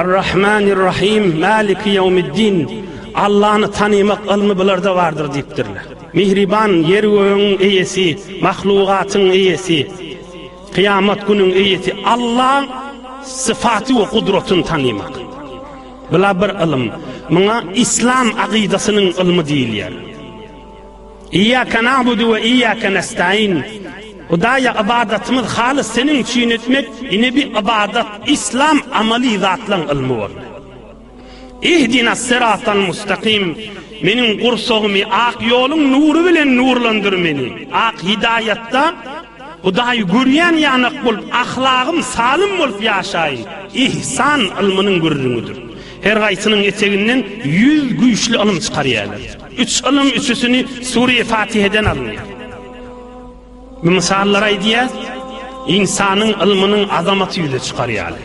Ar-Rahmanir-Rahym, Maliki Ýewmiddin, Allany tanymak ylmy bularda bardyr diýipdirler. Mihriban, Ýer-gögüň Eýesi, mahlugatyň Eýesi, Kyýamat günüň Eýesi Allaň syfaty we gudratyny tanymak. Bula bir ylym. Muňa Yslam akydasynyň ylmy diýilýär. Iyake na'budu we iyake nestaîn. Hudaýa ybadatymyz halys seniň üçin etmek, ine bi ybadat, islam amaly zatlaň ylmy boldy. Ihdinas siratal mustaqim. Meniň gursagymy ak ýoluň nury bilen nurlandyr meni. Ak hidaýatda Hudaýy görýän ýanak bolup, ahlagym salym bolup ýaşaýyn. Ihsan ylmynyň gürrüňidir. Her gaýsynyň eteginden ýüz güýçli ylym çykarýarlar. Üç ylym üçüsini Sure-i Fatiheden alynýar. Bu mysallar aýdýar, ynsanyň ylmynyň azamaty ýüze çykar ýaly.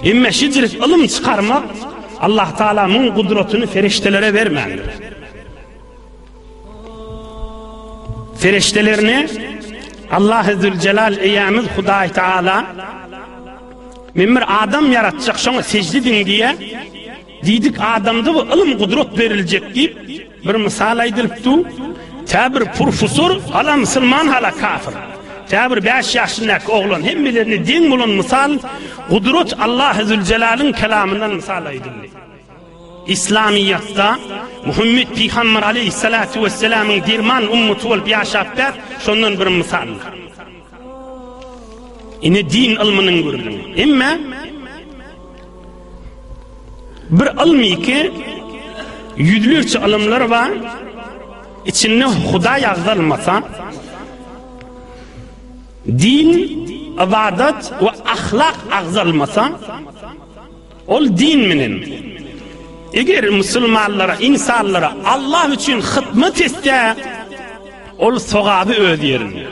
Emme şijrik ylym çykarmak Allah Taala muň gudratyny ferişdelere bermändir. Ferişdelerini Allah Ezzül Celal eýämiz Hudaý Taala Men bir adam ýaratjak, şoňa sejde ediň diýýär. Diýdik adamda bu ylym gudrat beriljek diýip bir mysal aýdylyp dur. Tä bir purfusor hala musulman hala kafir. Tä bir bäş ýaşyndaky oglan hemmelerine deň bolan mysal gudrat Allahy Züljelalyn kelamyndan mysal aýdyldy. Islamyýatda Muhammet pygamber aleýhyssalatu wessalamyň derman ummaty bolup ýaşapdar şondan bir mysal. Ine din ylmynyň gürlüňi. Emma bir ylm iki ýüzlerçe ylymlar bar. Içinde Hudaý agzalmasa din, ibadat we ahlak agzalmasa Ol din menen, eger musulmanlara, insanlara Allah üçin hyzmat etse, ol sogaby öz ýerinde.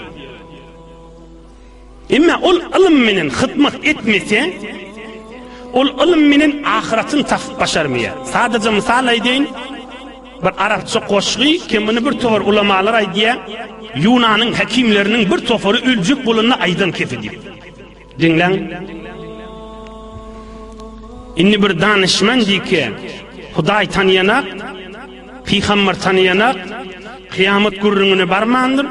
Emma ol ylym menen hyzmat etmese, ol ylym menen ahyratyny tapyp başarmaýar. Sadaja mysal aýdaýyn, bir arapça goşgy, kim muny bir topar ulamalar aýdýar, Ýunanyň hekimleriniň bir topary öljek bolanda aýdan kepi diýip. Diňläň. Indi bir danyşman diýki, Hudaý tanaýanak, pygamber tanaýanak, kyýamat gürrüňine barmandyr,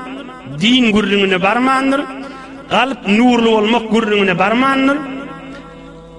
din gürrüňine barmandyr, galp nurly bolmak gürrüňine barmandyr.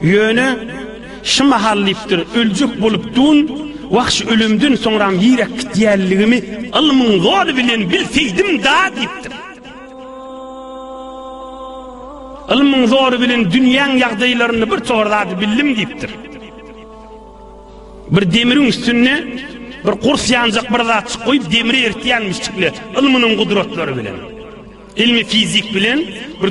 Ýöne, şu mahal diýipdir, öljek bolup dun, wahş ölemden soňram ýiräk gitýänligimi ylmyň zoly bilen bilseýdim-da diýipdir. Ylmyň zoly bilen dünýäň ýagdaýlaryny bir tor zady bildim diýipdir. Bir demiriň üstünde bir gurs ýanjak bir zatjyk goýup demri eritýänmişçikli ylmynyň gudratlary bilen. Ylmy fizik bilen bir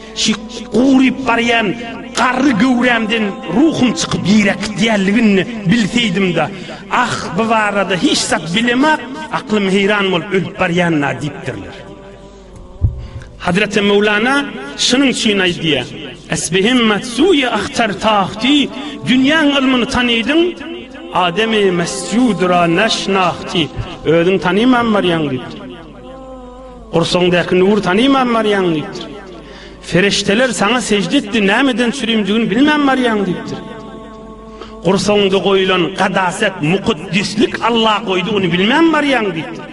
Şu guryp barýan garry göwrämden ruhum çykyp ýere akýanlygyny bilseýdim-de, ah, bu barada hiç zat bilemok, aklym heýran bolup ölüp barýan-a diýipdirler. Hazreti Mevlana şunuň üçin aýdýar, Esbihim matsuýa ahtar tahti, dünýäň ylmyny tanydyň, ademi mesjudra naşnahti, özüň tanyman barýaň diýipdir. Gursagyňdaky nury tanyman barýaň diýipdir. Ferişdeler saňa sežde etdi, nämeden sürimdigini bilmän barýaň diýipdir. Gursagyňda goýulan gadaset, mukaddeslik Allah goýdugyny bilmän barýaň diýipdir.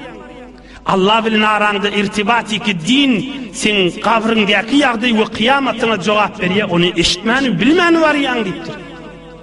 Allah bilen araňda irtibatiki din seň gabryňdaky ýagdaý we kyýamatyňa jogap berýär, ony eşitmän, bilmän barýaň diýipdir.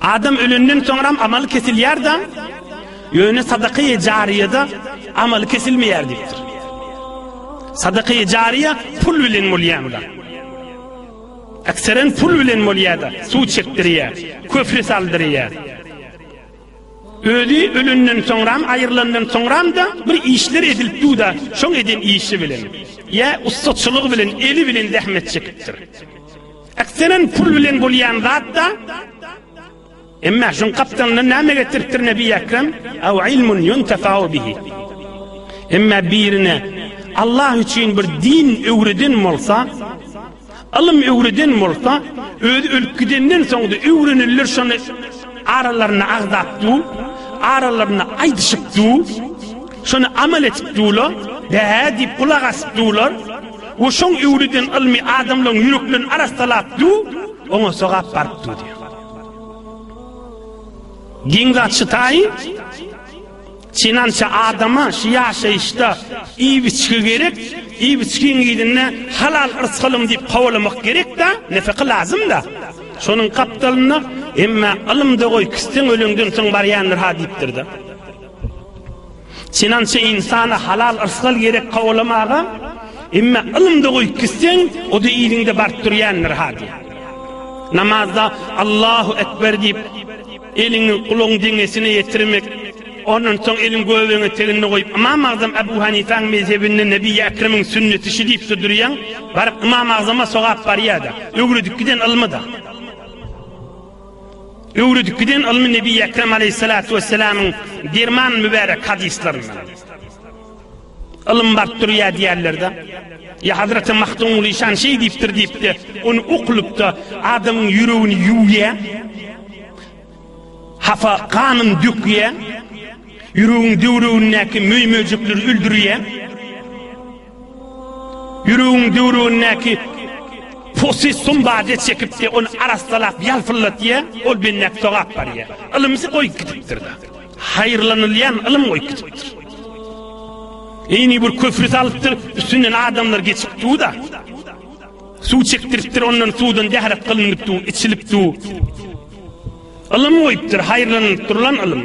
Adam ölenden soňram amaly kesilýär-de, ýöne sadaka-i jariýada amaly kesilmeýär diýipdir. Sadaka-i jariýa pul bilen bolýan zat. Ekseren pul bilen bolýar-da, suw çekdirýär, köpri saldyrýar. Özi ölenden soňram, aýrylandan soňram-da bir işler edilip dur-da, şoň eden işi bilen, ýa ussaçylygy bilen, eli bilen zähmet çekipdir. Ekserin pul bilen bolýan zatda Emma şun gapdalyndan näme getiripdir Nebi Ekrem? Aw ilmun yuntafau bihi. Emma birine Allah üçin bir din öwreden bolsa, ylym öwreden bolsa, öz ölüp gidenden soňda öwrenilir şony aralarynda agzapdy, aralarynda aýdyşypdy, şony amal etipdiler, dä diýip gulak asypdylar. We şoň öwlüden ylmy adamlaryň ýüreklerini arassalap du, oňa sogap baryp du diýýär. Giň zat şytaýy, Çinança adama şu ýaşaýyşda iýip-içgi gerek, iýip-içgiň ýerine halal yrsy alym diýip kowalamak gerek-de, nefeka lazym-da. Şonuň gapdalynda, Emma ylym-da goý, kisseň öleňden soň barýandyr-ha diýipdir-de. Synança ynsana halal yrsgal gerek kowalamaga, emme ylymda goýup gitseň, o-da yzyňda baryp durýandyr ha diýýär. Namazda Allahu ekber diýip, eliňi gulagyň deňesine ýetirmek, ondan soň eliň göbek eteginde goýup, Ymam Agzam Abu Hanifäň mezhebinde Nebiýi Ekremiň sünneti şu diýip-de durýaň, baryp Ymam Agzama sogap barýar-da, öwredip giden ylmy-da. Öwredip giden ylmy Nebi Ekrem aleýhissalatu wessalamyň derman mübärek hadyslaryndan. Ylym baryp durýar diýerler-de. Ýa Hazreti Mahdum Lyşan şeý diýipdir diýip-de, ony okulyp-da adamyň ýüregini ýuwýar. Hafa ganyn dökýär. Ýüregiň döwregindäki möý-möjekleri öldürýär. Ýüregiň düwrügindäki posy sumbady çekipdi, ony arassalap ýalpyldatýa, ol bendäki sogap barýa. Ylymsy goýup gidipdir-de. Haýyrlanylýan ylym goýup gidipdir. Ini bir köpri salypdyr, üstünden adamlar geçip dur-da. Suw çekdiripdir, ondan suwdan dährek gylynyp dur, içilip dur. Ylym goýupdyr, haýyrlanyp durlan ylym.